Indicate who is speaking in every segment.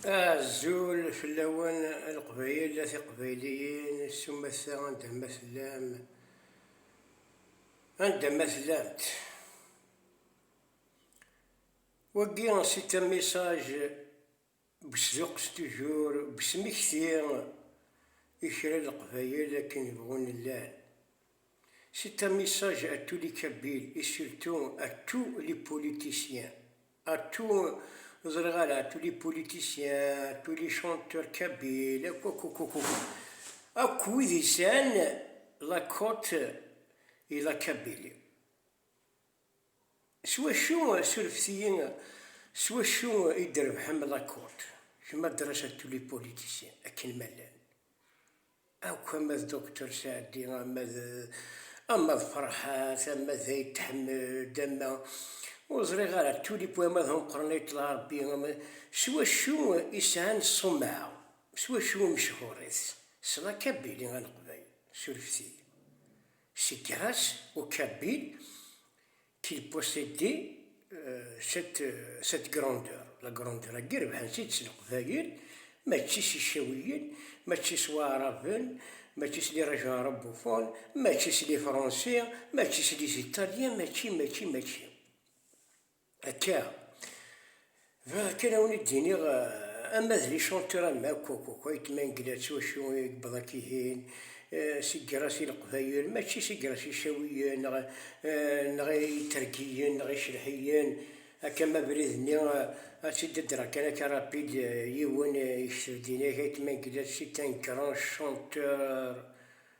Speaker 1: Azul fell-awen a Leqbayel, a Tiqbayliyin, s umata anda ma tellam, anda ma tellamt. Wagi c'est un message besduqes toujours, besmekti i kra n Leqbayel akken bɣun llan. C'est un message à tous les Kabyles et surtout à tous les politiciens. À tous, ẓriɣ ala, à tous les politiciens, à tous les chanteurs kabyles, akk akk akk akk akk wid yesɛan la côte et la Kabylie. S wacu, surfet-iyi, s wacu i d-trebḥem la côte? Kemm ad d-terreḍ à tous les politiciens, akken ma llan. akk ama d Doctor Saɛdi, ama d ama d Ferḥat, ama d Ayt Ḥmed, ama ur ẓriɣ ara, Tulip wama d ameqqran Ayt Lɛerbi, ama s wacu i sɛan ṣṣumɛa, s wacu i mechuṛit, s Lakabili a Leqbayel, surfet-iyi, si Grace au Kabyle, Qu'il possédait cette cette grandeur la grandeur agi rebḥen-tt-id s leqbayel mačči s icawiyen mačči s waɛraben mačči s lirajan arabufun mačči s lifransi mačči s liziṭalyen mačči mačči mačči akka Bɣiɣ kan a wen-id-iniɣ ama d les chanteurs am akk akk akk ay tmangla s wacu i yewweḍ akk ihin, s igerras i leqbayel mačči s igerras icawiyen neɣ neɣ itergiyen neɣ icelḥiyen, akka ma abrid-nni ad t-id-ddreɣ kan akka rapid, yiwen yekteb-d ini-ak ay tmangla s itan grand chanteur.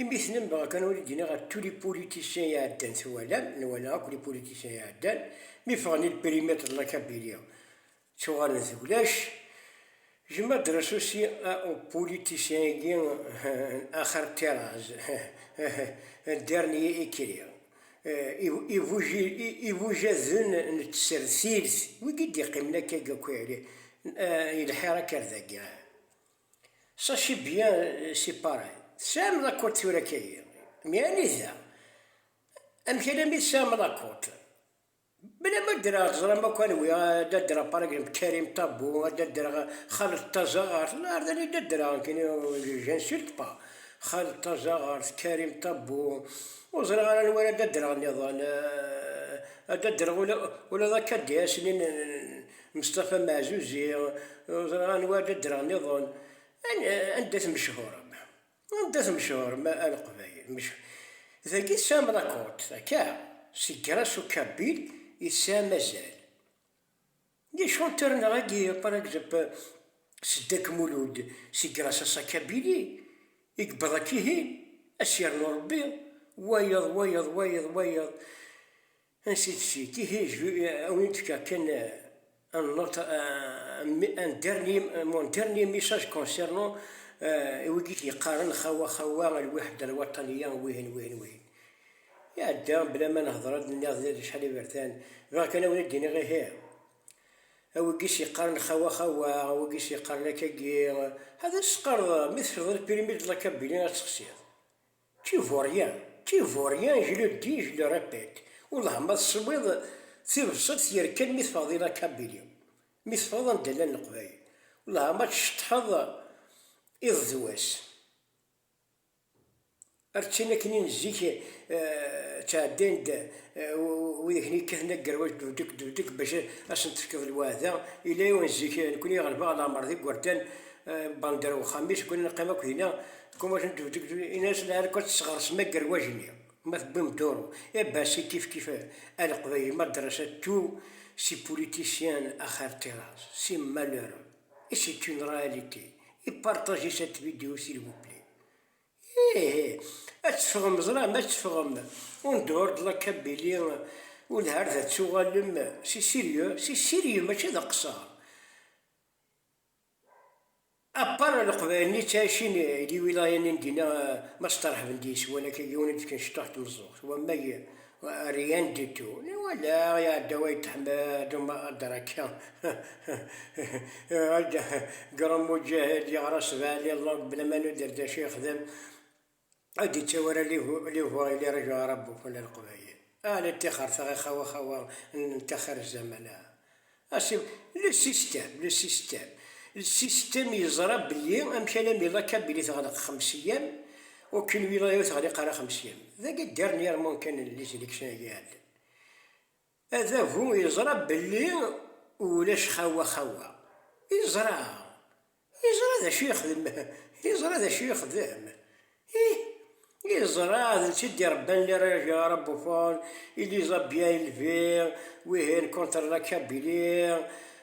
Speaker 1: Imi tennam dɣa kan ur d-yenni ɣef tous les politiciens iɛeddan twalam, nwala akk les politiciens iɛeddan, mi ffɣen il périmètre de la Kabylie ttuɣalen d ulac, j'aime adresse aussi à aux politiciens-agi n axir Tirraz, un dernier écrit, ibujaden n tsertilt, wigi d-iqqimen akkagi akk, yelḥa irakar dagi. Ça c'est bien c'est pareil. Tesɛam lakurt tura kagi. Mais anida? Amek alami tesɛam lakurt? Bla ma ddreɣ teẓram akk anwi ad ddreɣ par exemple Karim Tabu, ad ddreɣ Xaled Tazaɣart, la ar d anida ddreɣ nekni j'insulte pas. Xaled Tazaɣart, Karim Tabu, ur ẓriɣ ara anwa ara d ddreɣ nniḍen, ad ddreɣ ula d akadias-nni n. Mestafa Meɛzuzi, ur ẓriɣ anwa ara ddreɣ nniḍen, anda tmecḥurem, anda tmecḥurem a Leqbayel, mecḥuṛ, dagi tesɛam lakurt, akka, seg Grass u Kabil i tesɛam azal, d acu n tarna-agi, par egzemp, Seddek Mulud, si Grass a sa Kabili i yewweḍ akkihin, a s-yernu Rebbi, wayeḍ, wayeḍ, wayeḍ, wayeḍ, Ansi tezzi tihi a wen d-fkeɣ kan un autre un dernier mon dernier message concernant i wigi t-yeqqaren xawa xawa al wahda al wataniya wihin wihin wihin iɛedda bla ma nehder ad d-nniɣ d acḥal iberdan bɣiɣ kan a wen d-iniɣ ihi a wigi s-yeqqaren xawa xawa a wigi s-yeqqaren akagi ḥader s-teqqareḍ mi tefreḍ lpirimi d lakabbili ad texsiḍ Qui vaut rien, qui vaut rien, je le dis, je le répète, wellah ma teswiḍ tibṣelt yerkan mi teffɣeḍ i la Kabylie, mi teffɣeḍ anda llan Leqbayel, wellah ma tceṭṭḥeḍ iḍ d wass. Ar d tin akken i n zik ttɛeddayen-d wid akken yekkaten agerwaj debdek debdek bac a sen-tefkeḍ lweɛda, yella yiwen zik nekni ɣelbeɣ leɛmer d igerdan, banda ar wexxam-is, kni neqqim akk dinna, Kum wajen dudek du inas la arko tesɣers ma gerwajni ma tewwim duru e basi kif kif aleqbayel ma drasa tu si politiciens axar tiras si malheureux et c'est une réalité et partagez cette vidéo s'il vous plaît ihi ad teffɣem ẓra ma teffɣem en dehors de la Kabylie welhar ad tuɣalem c'est sérieux c'est sérieux mačči d aqeṣṣer Apar leqbayel-nni yettɛicin di lwilayanni n dinna, ma steṛḥben deg-s, wala kan yiwen i d-fkan cṭuḥ n tmeẓẓuɣt, wammag Rian Ditto, wala iɛedda Wayt Ḥmed Adraka, Grand Mujahid, yeɣra sebɛa di llangue bla ma nuder d acu yexdem, Ad d-ittawi ara liwur i liraju arabu n Leqbayel. Ah la ṭixer tɣixa-w a xawa n taxir zzaman ah. Ah si le système, le système, le système yeẓra belli amkan am ila Kabili teɣleq xems eyyam, aucune wilaya ur teɣliq ara xems eyyam. Dagi dernièrement kan les élections agi iɛeddan. Adabu yeẓra belli ulac xawa xawa, yeẓra, yeẓra d acu yexdem, yeẓra d acu yexdem, ih, yeẓra d netta i d-irebban les Régions bouffons, il les a bien élevés, wihin contre la Kabylie,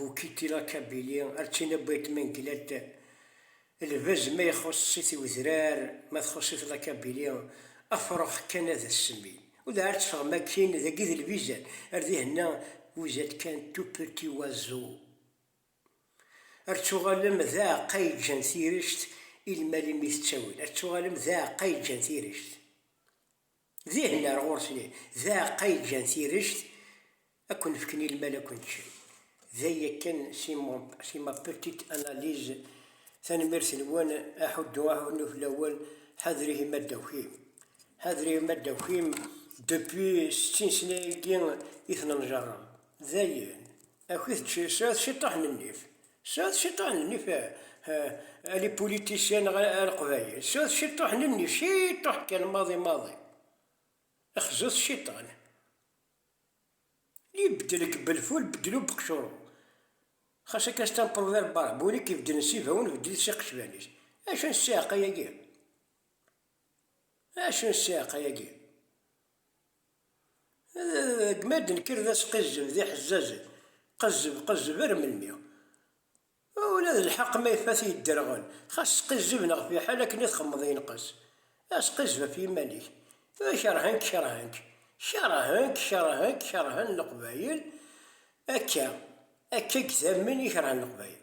Speaker 1: Bu Kitila Kabili, ar tina Buyt Menglet, lbaz ma ixuṣṣ-it i wedrar, ma txuṣṣ-it la Kabili, afrux kan ad as-semmin. U dɣa ar teffɣem akkin, dagi d lbizan, ar dihenna vous êtes qu'un tout petit oiseau. Ar tuɣalem d aɛeqqa yeǧǧan tirect i lmal imi tettawil, ar tuɣalem d aɛeqqa yeǧǧan tirect. Dihin ar ɣur-sen ihi, d aɛeqqa i ǧǧan tirect, ad ken-fken i lmal ad ken-ččen. Day akken si mon si ma petite analyse. Tanemmirt-nwen aḥuddu aḥunnu fell-awen, ḥader ihi ma d-takim. Ḥader ihi ma d-takim depuis settin sena-agi i ten-njerreb. Dayen. Akk-it sɛut ciṭṭaḥ n nnif, sɛut ciṭṭaḥ n nnif a les politiciens neɣ a leqbayel, sɛut ciṭṭaḥ n nnif, ciṭṭaḥ kan maḍi maḍi, xzut cciṭan, li beddlek belful beddlu beqcuru, xas akka c'est un proverbe arabe, win i k-ibeddlen s ibawen beddel-it s iqecban-is, acu n ssiɛqa-agi? acu n ssiɛqa-agi? Deg mi ara d-nekker d asqizzeb d iḥezzazen, qezzeb, qezzeb ar melmi? Ula d lḥeqq ma ifat yedderɣel, xas sqizzeb neɣ fiḥel akken i txemmeḍ yenqes. Asqizzeb ɣef yiman-ik. Tura kerhen-k, kerhen-k. Kerhen-k, kerhen-k, kerhen Leqbayel. Akka, akka i idamen i kerhen Leqbayel.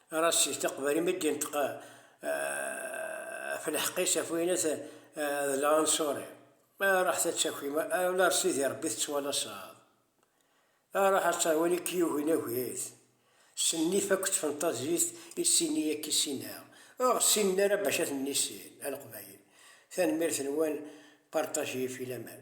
Speaker 1: Rassi teqbel imi d-inṭeq ɣef lḥeqq-is ɣef wayen-at d lɛunṣuri. Ruḥet ad takim, a ula ar Sidi Rebbi tettwalaseḍ. Ruḥ ad taɣ win i k-yugin agit. S nnif akked tfenṭazit i sin-iyi ad k-issineɣ. Ur ɣ-ssinen ara bac ad ten-nissin, a Leqbayel. Tanemmirt-nwen, partager, filaman.